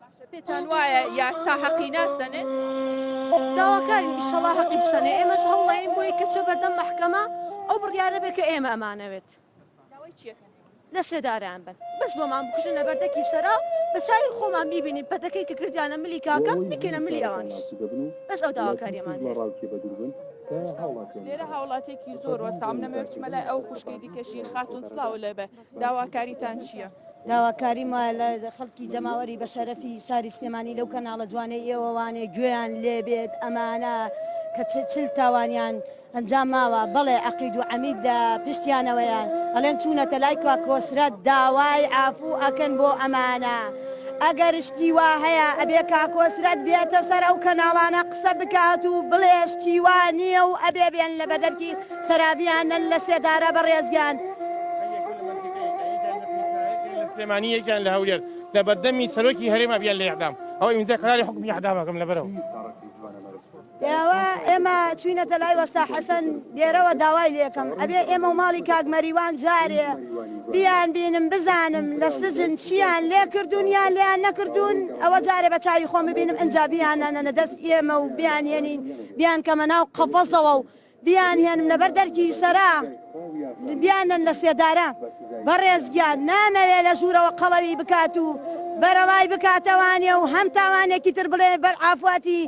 باشە پێتان وایە یاسا هەقی ناسەنێ داواکارین ئیشەڵا هەقی بسەنێ ئێمەش هەوڵەیەین بۆی کە چە بەردەم مەحکەمە ئەو بڕیارە بێ کە ئێمە ئەمانەوێت لە سێدارەیان بن بەس بۆمان بکوژن لە بەردەکی سەرا بە چاوی خۆمان بیبینین پەتەکەی کە کردیانە ملی کاکە بکەینە ملی ئەوانیش بەس ئەو داواکاریەمان لێرە هاوڵاتێکی زۆر وەستام نەمەوێت بچمە لای ئەو خوشکەی دیکەشی خاتون سلاو لێبێ داواکاریتان چیە؟ داواکاریم وایە لە خەڵکی جەماوەری بەشەرەفی شاری سلێمانی لەو کەناڵە جوانەی ئێوەوانێ گوێیان لێبێت ئەمانە کە چل تاوانیان ئەنجام ماوە بەڵێ عقید و عمید لە پشتیانەوەیان ئەلێن چوونەتە لای کا کۆسرەت داوای ئافوو ئەکەن بۆ ئەمانە ئەگەر شتی وا هەیە ئەبێ کا کۆسرەت بێتە سەر ئەو کەناڵانە قسە بکات و بڵێ شتی وا نییە و ئەبێ بێن لە بەدەرکی خەرابیان نەن لە سێدارە بەڕێز گیان. سلێمانی یەکیان لە هەولێر لە بەردەمی سەرۆکی هەرێم ئەبیان لە ئیعدام ئەوە ئیمزای قەراری حوکمی ئیعدام ئەکەم لەبەرەوە ئێوە ئێمە چوینەتە لای وەستا حەسەن لێرەوە داوای لێکەم ئەبێ ئێمە و ماڵی کاک مەریوان جارێ بیان بینم بزانم لە سجن چیان لێ کردوون یان لێیان نەکردوون ئەوە جارێ بە چاوی خۆم ببینم ئەنجا بیانانەنە دەست ئێمە و بیانێنین بیان کەمە ناو قەفەسەوە و بیان هێنم لەبەر دەرکی سەرا بیان نەن لە سێدارە بەڕێز گیان نامەوێ لە ژوورەوە قەڵەوی بکات و بەرەڵای بکاتەوانێ و هەم تاوانێکی تر بڵێ بەر ئافواتی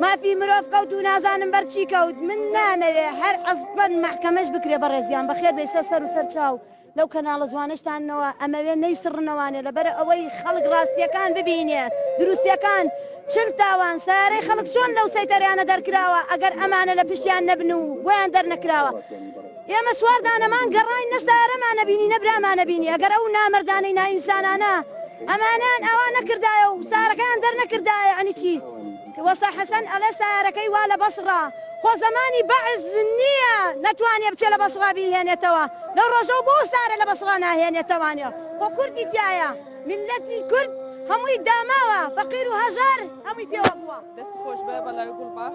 مافی مرۆڤ کەوت و نازانم بەرچی کەوت من نامەوێ هەر ئەسڵەن مەحکەمەش بکرێ بەڕێزیان بەخێر بێ سەر سەر و سەر چاو لەو کەناڵە جوانەشتانەوە ئەمەوێ نەیسڕنەوانێ لەبەر ئەوەی خەڵک ڕاستیەکان ببینێ دروستەکان چل تاوان سەیارەی خەڵک چۆن لەو سەیتەرەیانە دەرکراوە ئەگەر ئەمانە لە پشتیان نەبن و بۆیان دەرنەکراوە ئێمە چوار دانەمان گەڕاین نە سەیارەمانە بینی نە برامانە بینی ئەگەر ئەو نامەردانەی نائینسانانە ئەمانەیان ئاوا نەکردایە و سەیارەکەیان دەرنەکردایە یەعنی چی؟ وەستا حەسەن ئەڵێ سەیارەکەی وا لە بەسڕە خۆ زەمانی بەعس نییە نەتوانێ بچێ لە بەسڕە بیهێنێتەوە لەو ڕۆژەو بۆ ئستارە لە بەسڕە ناهێنێتەوانێ خۆ کوردی تیایە میللەتی کورد هەمووی داماوە فەقیر و هەژار هەمووی پێوە بووە. دەست خۆش بەڵێ گوڵباخ.